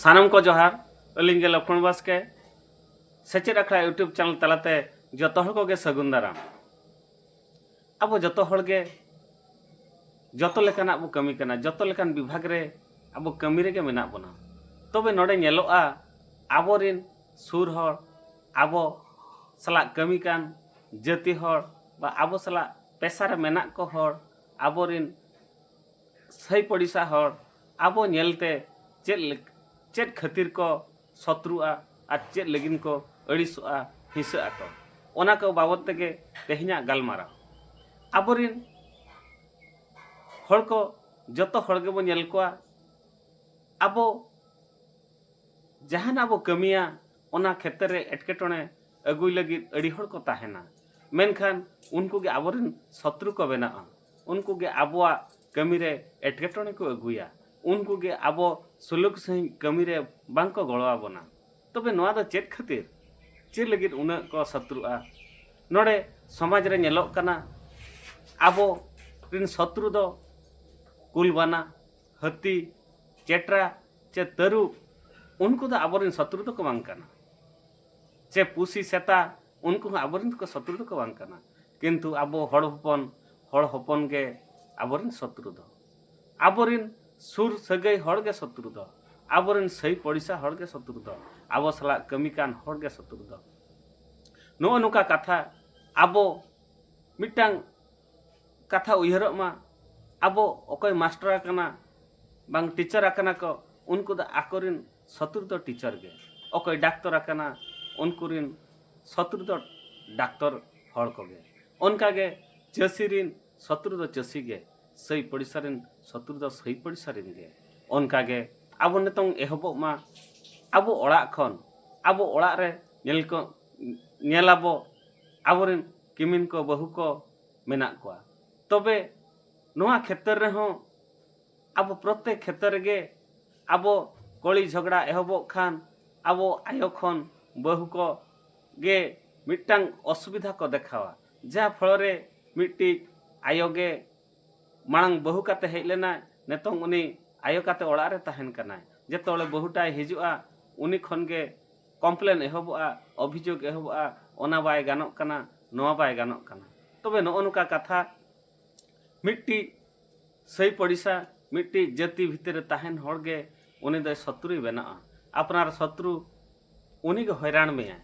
ᱥᱟᱱᱟᱢ ᱠᱚ ᱡᱚᱦᱟᱨ ᱟᱹᱞᱤᱧ ᱜᱮ ᱞᱚᱠᱷᱚᱱ ᱵᱟᱥᱠᱮ ᱥᱮᱪᱮᱫ ᱟᱠᱷᱲᱟ ᱤᱭᱩᱴᱩᱵᱽ ᱪᱮᱱᱮᱞ ᱛᱟᱞᱟᱛᱮ ᱡᱚᱛᱚ ᱦᱚᱲ ᱠᱚᱜᱮ ᱥᱟᱹᱜᱩᱱ ᱫᱟᱨᱟᱢ ᱟᱵᱚ ᱡᱚᱛᱚ ᱦᱚᱲ ᱜᱮ ᱡᱚᱛᱚ ᱞᱮᱠᱟᱱᱟᱜ ᱵᱚ ᱠᱟᱹᱢᱤ ᱠᱟᱱᱟ ᱡᱚᱛᱚ ᱞᱮᱠᱟᱱ ᱵᱤᱵᱷᱟᱜᱽ ᱨᱮ ᱟᱵᱚ ᱠᱟᱹᱢᱤ ᱨᱮᱜᱮ ᱢᱮᱱᱟᱜ ᱵᱚᱱᱟ ᱛᱚᱵᱮ ᱱᱚᱰᱮ ᱧᱮᱞᱚᱜᱼᱟ ᱟᱵᱚᱨᱮᱱ ᱥᱩᱨ ᱦᱚᱲ ᱟᱵᱚ ᱥᱟᱞᱟᱜ ᱠᱟᱹᱢᱤ ᱠᱟᱱ ᱡᱟᱹᱛᱤ ᱦᱚᱲ ᱵᱟ ᱟᱵᱚ ᱥᱟᱞᱟᱜ ᱯᱮᱥᱟ ᱨᱮ ᱢᱮᱱᱟᱜ ᱠᱚ ᱦᱚᱲ ᱟᱵᱚ ᱨᱤᱱ ᱥᱟᱹᱭ ᱯᱚᱲᱤᱥᱟ ᱦᱚᱲ ᱟᱵᱚ ᱧᱮᱞ ᱛᱮ ᱪᱮᱫ ᱪᱮᱫ ᱠᱷᱟᱹᱛᱤᱨ ᱠᱚ ᱥᱚᱛᱨᱩᱜᱼᱟ ᱟᱨ ᱪᱮᱫ ᱞᱟᱹᱜᱤᱫ ᱠᱚ ᱟᱹᱲᱤᱥᱚᱜᱼᱟ ᱦᱤᱸᱥᱟᱹᱜ ᱟᱠᱚ ᱚᱱᱟ ᱠᱚ ᱵᱟᱵᱚᱛ ᱛᱮᱜᱮ ᱛᱮᱦᱮᱧᱟᱜ ᱜᱟᱞᱢᱟᱨᱟᱣ ᱟᱵᱚ ᱨᱤᱱ ᱦᱚᱲ ᱠᱚ ᱡᱚᱛᱚ ᱦᱚᱲ ᱜᱮᱵᱚ ᱧᱮᱞ ᱠᱚᱣᱟ ᱟᱵᱚ ᱡᱟᱦᱟᱱᱟᱜ ᱵᱚ ᱠᱟᱹᱢᱤᱭᱟ ᱚᱱᱟ ᱠᱷᱮᱛᱨᱮ ᱨᱮ ᱮᱴᱠᱮᱴᱚᱬᱮ ᱟᱹᱜᱩᱭ ᱞᱟᱹᱜᱤᱫ ᱟᱹᱰᱤ ᱦᱚᱲ ᱠᱚ ᱛᱟᱦᱮᱱᱟ ᱢᱮᱱᱠᱷᱟᱱ ᱩᱱᱠᱩ ᱜᱮ ᱟᱵᱚ ᱨᱮᱱ ᱥᱚᱛᱨᱩ ᱠᱚ ᱵᱮᱱᱟᱜᱼᱟ ᱩᱱᱠᱩ ᱜᱮ ᱟᱵᱚᱣᱟᱜ ᱠᱟᱹᱢᱤ ᱨᱮ ᱮᱴᱠᱮᱴᱚᱬᱮ ᱠᱚ ᱟᱹᱜᱩᱭᱟ ᱩᱱᱠᱩ ᱜᱮ ᱟᱵᱚ ᱥᱩᱞᱩᱠ ᱥᱟᱺᱦᱤᱡ ᱠᱟᱹᱢᱤ ᱨᱮ ᱵᱟᱝ ᱠᱚ ᱜᱚᱲᱚ ᱟᱵᱚᱱᱟ ᱛᱚᱵᱮ ᱱᱚᱣᱟ ᱫᱚ ᱪᱮᱫ ᱠᱷᱟᱹᱛᱤᱨ ᱪᱮᱫ ᱞᱟᱹᱜᱤᱫ ᱩᱱᱟᱹᱜ ᱠᱚ ᱥᱚᱛᱨᱩᱜᱼᱟ ᱱᱚᱰᱮ ᱥᱚᱢᱟᱡᱽ ᱨᱮ ᱧᱮᱞᱚᱜ ᱠᱟᱱᱟ ᱟᱵᱚ ᱨᱮᱱ ᱥᱚᱛᱨᱩ ᱫᱚ ᱠᱩᱞ ᱵᱟᱱᱟ ᱦᱟᱹᱛᱤ ᱪᱮᱴᱨᱟ ᱪᱮ ᱛᱟᱹᱨᱩᱵ ᱩᱱᱠᱩ ᱫᱚ ᱟᱵᱚᱨᱮᱱ ᱥᱚᱛᱨᱩ ᱫᱚᱠᱚ ᱵᱟᱝ ᱠᱟᱱᱟ ᱪᱮ ᱯᱩᱥᱤ ᱥᱮᱛᱟ ᱩᱱᱠᱩ ᱦᱚᱸ ᱟᱵᱚᱨᱮᱱ ᱫᱚᱠᱚ ᱥᱚᱛᱨᱩ ᱫᱚᱠᱚ ᱵᱟᱝ ᱠᱟᱱᱟ ᱠᱤᱱᱛᱩ ᱟᱵᱚ ᱦᱚᱲ ᱦᱚᱯᱚᱱ ᱦᱚᱲ ᱦᱚᱯᱚᱱ ᱜᱮ ᱟᱵᱚᱨᱮᱱ ᱥᱚᱛᱨᱩ ᱫᱚ ᱟᱵᱚᱨᱮᱱ ᱥᱩᱨ ᱥᱟᱹᱜᱟᱹᱭ ᱦᱚᱲ ᱜᱮ ᱥᱚᱛᱨᱩ ᱫᱚ ᱟᱵᱚᱨᱮᱱ ᱥᱟᱹᱭ ᱯᱚᱲᱤᱥᱟ ᱦᱚᱲ ᱜᱮ ᱥᱚᱛᱨᱩ ᱫᱚ ᱟᱵᱚ ᱥᱟᱞᱟᱜ ᱠᱟᱹᱢᱤ ᱠᱟᱱ ᱦᱚᱲ ᱜᱮ ᱥᱚᱛᱨᱩ ᱫᱚ ᱱᱚᱜᱼᱚ ᱱᱚᱝᱠᱟ ᱠᱟᱛᱷᱟ ᱟᱵᱚ ᱢᱤᱫᱴᱟᱝ ᱠᱟᱛᱷᱟ ᱩᱭᱦᱟᱹᱨᱚᱜ ᱢᱟ ᱟᱵᱚ ᱚᱠᱚᱭ ᱢᱟᱥᱴᱟᱨ ᱟᱠᱟᱱᱟ ᱵᱟᱝ ᱴᱤᱪᱟᱨ ᱟᱠᱟᱱᱟ ᱠᱚ ᱩᱱᱠᱩ ᱫᱚ ᱟᱠᱚ ᱨᱤᱱ ᱥᱚᱛᱨᱩ ᱫᱚ ᱴᱤᱪᱟᱨ ᱜᱮ ᱚᱠᱚᱭ ᱰᱟᱠᱛᱚᱨ ᱟᱠᱟᱱᱟ ᱩᱱᱠᱩ ᱨᱤᱱ ᱥᱚᱛᱨᱩ ᱫᱚ ᱰᱟᱠᱛᱚᱨ ᱦᱚᱲ ᱠᱚᱜᱮ ᱚᱱᱠᱟ ᱜᱮ ᱪᱟᱹᱥᱤ ᱨᱤᱱ ᱥᱚᱛᱨᱩ ᱫᱚ ᱪᱟᱹᱥᱤ ᱜᱮ ᱥᱟᱹᱭ ᱯᱚᱲᱤᱥᱟ ᱨᱤᱱ ᱥᱚᱛᱨᱩ ᱫᱚ ᱥᱟᱹᱭ ᱯᱚᱲᱤᱥᱟ ᱨᱤᱱ ᱜᱮ ᱚᱱᱠᱟ ᱜᱮ ᱟᱵᱚ ᱱᱤᱛᱚᱝ ᱮᱦᱚᱵᱚᱜ ᱢᱟ ᱟᱵᱚ ᱚᱲᱟᱜ ᱠᱷᱚᱱ ᱟᱵᱚ ᱚᱲᱟᱜ ᱨᱮ ᱧᱮᱞ ᱠᱚ ᱧᱮᱞ ᱟᱵᱚ ᱟᱵᱚ ᱨᱤᱱ ᱠᱤᱢᱤᱱ ᱠᱚ ᱵᱟᱹᱦᱩ ᱠᱚ ᱢᱮᱱᱟᱜ ᱠᱚᱣᱟ ᱛᱚᱵᱮ ᱱᱚᱣᱟ ᱠᱷᱮᱛᱨᱮ ᱨᱮᱦᱚᱸ ᱟᱵᱚ ᱯᱨᱚᱛᱮᱠ ᱠᱷᱮᱛᱨᱮ ᱨᱮᱜᱮ ᱟᱵᱚ ᱠᱚᱞᱤ ᱡᱷᱚᱜᱽᱲᱟ ᱮᱦᱚᱵᱚᱜ ᱠᱷᱟᱱ ᱟᱵᱚ ᱟᱭᱳ ᱠᱷᱚᱱ ᱵᱟᱹᱦᱩ ᱠᱚ ᱜᱮ ᱢᱤᱫᱴᱟᱝ ᱚᱥᱩᱵᱤᱫᱷᱟ ᱠᱚ ᱫᱮᱠᱷᱟᱣᱟ ᱡᱟ ᱯᱷᱚᱞᱚ ᱨᱮ ᱢᱤᱫᱴᱤᱡ ᱟᱭᱳ ᱜᱮ ᱢᱟᱲᱟᱝ ᱵᱟᱹᱦᱩ ᱠᱟᱛᱮ ᱦᱮᱡ ᱞᱮᱱᱟᱭ ᱱᱤᱛᱚᱝ ᱩᱱᱤ ᱟᱭᱳ ᱠᱟᱛᱮ ᱚᱲᱟᱜ ᱨᱮ ᱛᱟᱦᱮᱱ ᱠᱟᱱᱟᱭ ᱡᱚᱛᱚ ᱦᱚᱲ ᱵᱟᱹᱦᱩ ᱴᱟᱜ ᱮ ᱦᱤᱡᱩᱜᱼᱟ ᱩᱱᱤ ᱠᱷᱚᱱ ᱜᱮ ᱠᱚᱢᱯᱞᱮᱱ ᱮᱦᱚᱵᱚᱜᱼᱟ, ᱚᱵᱷᱤᱡᱳᱜᱽ ᱮᱦᱚᱵᱚᱜᱼᱟ, ᱚᱱᱟ ᱵᱟᱭ ᱜᱟᱱᱚᱜ ᱠᱟᱱᱟ, ᱱᱚᱣᱟ ᱵᱟᱭ ᱜᱟᱱᱚᱜ ᱠᱟᱱᱟ᱾ ᱛᱚᱵᱮ ᱱᱚᱜᱼᱚ ᱱᱚᱝᱠᱟ ᱠᱟᱛᱷᱟ ᱢᱤᱫᱴᱤᱡ ᱥᱟᱹᱭ ᱯᱚᱲᱤᱥᱟ, ᱢᱤᱫᱴᱤᱡ ᱡᱟᱹᱛᱤ ᱵᱷᱤᱛᱤᱨ ᱨᱮ ᱛᱟᱦᱮᱸᱱ ᱦᱚᱲ ᱜᱮ ᱩᱱᱤ ᱫᱚᱭ ᱥᱚᱛᱨᱩᱭ ᱵᱮᱱᱟᱜᱼᱟ᱾ ᱟᱯᱱᱟᱨ ᱥᱚᱛᱨᱩ ᱩᱱᱤ ᱜᱮ ᱦᱚᱭᱨᱟᱬ ᱢᱮᱭᱟᱭ᱾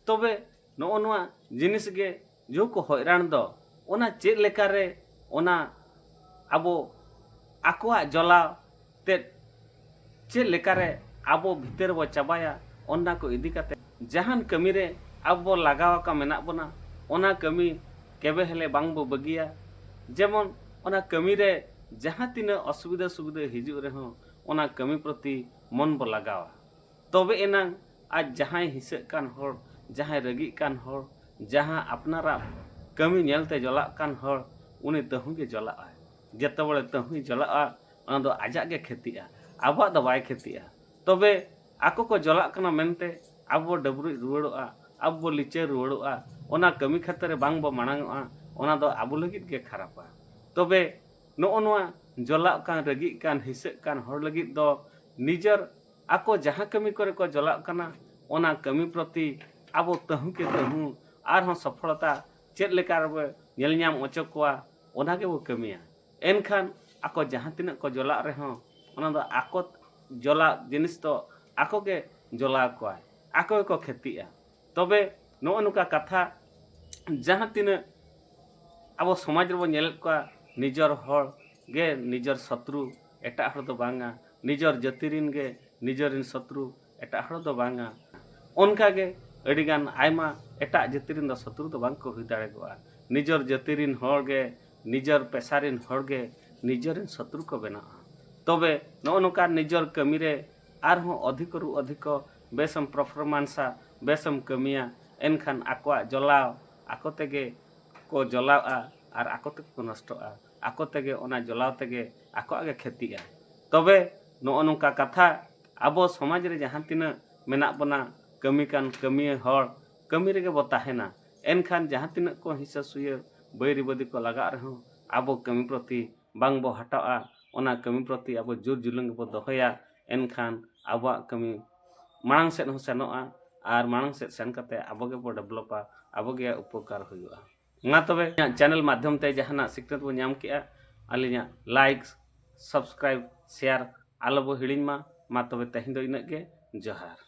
ᱛᱚᱵᱮ ᱱᱚᱜᱼᱚ ᱱᱚᱣᱟ ᱡᱤᱱᱤᱥ ᱜᱮ ᱡᱚ ᱠᱚ ᱦᱚᱭᱨᱟᱱ ᱫᱚ ᱚᱱᱟ ᱪᱮᱫ ᱞᱮᱠᱟ ᱨᱮ ᱚᱱᱟ ᱟᱵᱚ ᱟᱠᱚᱣᱟᱜ ᱡᱚᱞᱟᱣ ᱛᱮᱫ ᱪᱮᱫ ᱞᱮᱠᱟ ᱨᱮ ᱟᱵᱚ ᱵᱷᱤᱛᱟᱹᱨ ᱵᱚ ᱪᱟᱵᱟᱭᱟ ᱚᱱᱟ ᱠᱚ ᱤᱫᱤ ᱠᱟᱛᱮ ᱡᱟᱦᱟᱱ ᱠᱟᱹᱢᱤ ᱨᱮ ᱟᱵᱚ ᱵᱚ ᱞᱟᱜᱟᱣ ᱟᱠᱟᱱ ᱢᱮᱱᱟᱜ ᱵᱚᱱᱟ ᱚᱱᱟ ᱠᱟᱹᱢᱤ ᱠᱮᱵᱮ ᱦᱮᱞᱮ ᱵᱟᱝ ᱵᱚ ᱵᱟᱹᱜᱤᱭᱟ ᱡᱮᱢᱚᱱ ᱚᱱᱟ ᱠᱟᱹᱢᱤ ᱨᱮ ᱡᱟᱦᱟᱸ ᱛᱤᱱᱟᱹᱜ ᱚᱥᱩᱵᱤᱫᱟ ᱥᱩᱵᱤᱫᱟ ᱦᱤᱡᱩᱜ ᱨᱮᱦᱚᱸ ᱚᱱᱟ ᱠᱟᱹᱢᱤ ᱯᱨᱚᱛᱤ ᱢᱚᱱ ᱵᱚ ᱞᱟᱜᱟᱣᱟ ᱛᱚᱵᱮ ᱮᱱᱟᱝ ᱟᱡ ᱡᱟᱦᱟᱸᱭ ᱦᱤᱸᱥᱟᱹᱜ ᱠᱟᱱ ᱦᱚᱲ, ᱡᱟᱦᱟᱸᱭ ᱨᱟᱹᱜᱤᱜ ᱠᱟᱱ ᱦᱚᱲ, ᱡᱟᱦᱟᱸ ᱟᱯᱱᱟᱨᱟᱜ ᱠᱟᱹᱢᱤ ᱧᱮᱞ ᱛᱮ ᱡᱚᱞᱟᱜ ᱠᱟᱱ ᱦᱚᱲ, ᱩᱱᱤ ᱛᱟᱹᱦᱩ ᱜᱮ ᱡᱚᱞᱟᱜᱼᱟ᱾ ᱡᱮᱛᱮ ᱵᱟᱲᱮ ᱛᱟᱹᱦᱩᱭ ᱡᱚᱞᱟᱜᱼᱟ, ᱚᱱᱟ ᱫᱚ ᱟᱡᱟᱜ ᱜᱮ ᱠᱷᱮᱛᱤᱜᱼᱟ, ᱟᱵᱚᱣᱟᱜ ᱫᱚ ᱵᱟᱭ ᱠᱷᱮᱛᱤᱜᱼᱟ᱾ ᱛᱚᱵᱮ ᱟᱠᱚ ᱠᱚ ᱡᱚᱞᱟᱜ ᱠᱟᱱᱟ ᱢᱮᱱᱛᱮ ᱟᱵᱚ ᱵᱚ ᱰᱟᱹᱵᱽᱨᱩᱡ ᱨᱩᱣᱟᱹᱲᱚᱜᱼᱟ, ᱟᱵᱚ ᱵᱚ ᱞᱤᱪᱟᱹ ᱨᱩᱣᱟᱹᱲᱚᱜᱼᱟ, ᱚᱱᱟ ᱠᱟᱹᱢᱤ ᱠᱷᱟᱹᱛᱟᱹ ᱨᱮ ᱵᱟᱝ ᱵᱚ ᱢᱟᱲᱟᱝᱚᱜᱼᱟ, ᱚᱱᱟ ᱫᱚ ᱟᱵᱚ ᱞᱟᱹᱜᱤᱫ ᱜᱮ ᱠᱷᱟᱨᱟᱯᱟ᱾ ᱛᱚᱵᱮ ᱱᱚᱜᱼᱚ ᱱᱚᱣᱟ ᱡᱚᱞᱟᱜ ᱠᱟᱱ, ᱨᱟᱹᱜᱤᱜ ᱠᱟᱱ, ᱦᱤᱸᱥᱟᱹᱜ ᱠᱟᱱ ᱦᱚᱲ ᱞᱟᱹᱜᱤᱫ ᱫᱚ ᱱᱤᱡᱚᱨ ᱟᱠᱚ ᱡᱟᱦᱟᱸ ᱠᱟᱹᱢᱤ ᱠᱚᱨᱮ ᱠᱚ ᱡᱚᱞᱟᱜ ᱠᱟᱱᱟ ᱚᱱᱟ ᱠᱟᱹᱢᱤ ᱯᱨᱚᱛᱤ ᱟᱵᱚ ᱛᱟᱹᱦᱩ ᱠᱮ ᱛᱟᱹᱦᱩ ᱟᱨᱦᱚᱸ ᱥᱚᱯᱷᱚᱞᱚᱛᱟ ᱪᱮᱫ ᱞᱮᱠᱟ ᱨᱮᱵᱚ ᱧᱮᱞ ᱧᱟᱢ ᱚᱪᱚ ᱠᱚᱣᱟ ᱚᱱᱟ ᱜᱮᱵᱚ ᱠᱟᱹᱢᱤᱭᱟ ᱮᱱᱠᱷᱟᱱ ᱟᱠᱚ ᱡᱟᱦᱟᱸ ᱛᱤᱱᱟᱹᱜ ᱠᱚ ᱡᱚᱞᱟᱜ ᱨᱮᱦᱚᱸ ᱚᱱᱟ ᱫᱚ ᱟᱠᱚ ᱡᱚᱞᱟᱜ ᱡᱤᱱᱤᱥ ᱫᱚ ᱟᱠᱚ ᱜᱮ ᱡᱚᱞᱟᱣ ᱠᱚᱣᱟᱭ ᱟᱠᱚ ᱜᱮᱠᱚ ᱠᱷᱮᱛᱤᱜᱼᱟ ᱛᱚᱵᱮ ᱱᱚᱜᱼᱚ ᱱᱚᱝᱠᱟ ᱠᱟᱛᱷᱟ ᱡᱟᱦᱟᱸ ᱛᱤᱱᱟᱹᱜ ᱟᱵᱚ ᱥᱚᱢᱟᱡᱽ ᱨᱮᱵᱚ ᱧᱮᱞᱮᱫ ᱠᱚᱣᱟ ᱱᱤᱡᱚᱨ ᱦᱚᱲ ᱜᱮ ᱱᱤᱡᱚᱨ ᱥᱚᱛᱨᱩ ᱮᱴᱟᱜ ᱦᱚᱲ ᱫᱚ ᱵᱟᱝᱟ ᱱᱤᱡᱚᱨ ᱡᱟᱹᱛᱤ ᱨᱮᱱ ᱜᱮ ᱱᱤᱡᱚᱨ ᱨᱮᱱ ᱥᱚᱛᱨᱩ ᱮᱴᱟᱜ ᱦᱚᱲ ᱫᱚ ᱵᱟᱝᱟ ᱚᱱᱠᱟ ᱜᱮ ᱟᱹᱰᱤ ᱜᱟᱱ ᱟᱭᱢᱟ ᱮᱴᱟᱜ ᱡᱟᱹᱛᱤ ᱨᱮᱱ ᱫᱚ ᱥᱚᱛᱨᱩ ᱫᱚ ᱵᱟᱝ ᱠᱚ ᱦᱩᱭ ᱫᱟᱲᱮᱭᱟᱜᱼᱟ ᱱᱤᱡᱚᱨ ᱡᱟᱹᱛᱤ ᱨᱮᱱ ᱦᱚᱲ ᱜᱮ ᱱᱤᱡᱚᱨ ᱯᱮᱥᱟ ᱨᱮᱱ ᱦᱚᱲ ᱜᱮ ᱱᱤᱡᱚᱨ ᱨᱮᱱ ᱥᱚᱛᱨᱩ ᱠᱚ ᱵᱮᱱᱟᱜᱼᱟ ᱛᱚᱵᱮ ᱱᱚᱜᱼᱚ ᱱᱚᱝᱠᱟ ᱱᱤᱡᱚᱨ ᱠᱟᱹᱢᱤ ᱨᱮ ᱟᱨᱦᱚᱸ ᱚᱫᱷᱤᱠᱚᱨᱩ ᱚᱫᱷᱤᱠᱚ ᱵᱮᱥ ᱮᱢ ᱯᱨᱚᱯᱷᱚᱨᱢᱟᱱᱥᱼᱟ, ᱵᱮᱥ ᱮᱢ ᱠᱟᱹᱢᱤᱭᱟ, ᱮᱱᱠᱷᱟᱱ ᱟᱠᱚᱣᱟᱜ ᱡᱚᱞᱟᱣ ᱟᱠᱚ ᱛᱮᱜᱮ ᱠᱚ ᱡᱚᱞᱟᱣᱜᱼᱟ ᱟᱨ ᱟᱠᱚ ᱛᱮᱜᱮ ᱠᱚ ᱱᱚᱥᱴᱚᱜᱼᱟ᱾ ᱟᱠᱚ ᱛᱮᱜᱮ ᱚᱱᱟ ᱡᱚᱞᱟᱣ ᱛᱮᱜᱮ ᱟᱠᱚᱣᱟᱜ ᱜᱮ ᱠᱷᱮᱛᱤᱜᱼᱟ᱾ ᱛᱚᱵᱮ ᱱᱚᱜᱼᱚ ᱱᱚᱝᱠᱟ ᱠᱟᱛᱷᱟ ᱟᱵᱚ ᱥᱚᱢᱟᱡᱽ ᱨᱮ ᱡᱟᱦᱟᱸ ᱛᱤᱱᱟᱹᱜ ᱢᱮᱱᱟᱜ ᱵᱚᱱᱟ ᱠᱟᱹᱢᱤ ᱠᱟᱱ ᱠᱟᱹᱢᱤᱭᱟᱹ ᱦᱚᱲ, ᱠᱟᱹᱢᱤ ᱨᱮᱜᱮ ᱵᱚ ᱛᱟᱦᱮᱸᱱᱟ᱾ ᱮᱱᱠᱷᱟᱱ ᱡᱟᱦᱟᱸ ᱛᱤᱱᱟᱹᱜ ᱠᱚ ᱦᱤᱸᱥᱟᱹ ᱥᱩᱭᱟᱹ, ᱵᱟᱹᱭᱨᱤ ᱵᱟᱹᱫᱤ ᱠᱚ ᱞᱟᱜᱟᱜ ᱨᱮᱦᱚᱸ ᱟᱵᱚ ᱠᱟᱹᱢᱤ ᱯᱨᱚᱛᱤ ᱵᱟᱝ ᱵᱚ ᱦᱟᱴᱟᱣᱜᱼᱟ᱾ ᱚᱱᱟ ᱠᱟᱹᱢᱤ ᱯᱨᱚᱛᱤ ᱟᱵᱚ ᱡᱩᱨ ᱡᱩᱞᱩᱝ ᱜᱮᱵᱚ ᱫᱚᱦᱚᱭᱟ᱾ ᱮᱱᱠᱷᱟᱱ ᱟᱵᱚᱣᱟᱜ ᱠᱟᱹᱢᱤ ᱢᱟᱲᱟᱝ ᱥᱮᱫ ᱦᱚᱸ ᱥᱮᱱᱚᱜᱼᱟ ᱟᱨ ᱢᱟᱲᱟᱝ ᱥᱮᱫ ᱥᱮᱱ ᱠᱟᱛᱮ ᱟᱵᱚ ᱜᱮᱵᱚ ᱰᱮᱵᱷᱞᱚᱯᱟ ᱟᱵᱚ ᱜᱮ ᱩᱯᱚᱠᱟᱨ ᱦᱩᱭᱩᱜᱼᱟ ᱢᱟ ᱛᱚᱵᱮ ᱤᱧᱟᱹᱜ ᱪᱮᱱᱮᱞ ᱢᱟᱫᱽᱫᱷᱚᱢ ᱛᱮ ᱡᱟᱦᱟᱱᱟᱜ ᱥᱤᱠᱷᱱᱟᱹᱛ ᱵᱚ ᱧᱟᱢ ᱠᱮᱜᱼᱟ ᱟᱹᱞᱤᱧᱟᱜ ᱞᱟᱭᱤᱠ ᱥᱟᱵᱥᱠᱨᱟᱭᱤᱵᱽ ᱥᱮᱭᱟᱨ ᱟᱞᱚ ᱵᱚ ᱦᱤᱲᱤᱧ ᱢᱟ ᱢᱟ ᱛᱚᱵᱮ ᱛᱮᱦᱮᱧ ᱫᱚ ᱤᱱᱟᱹᱜ ᱜᱮ ᱡᱚᱦᱟᱨ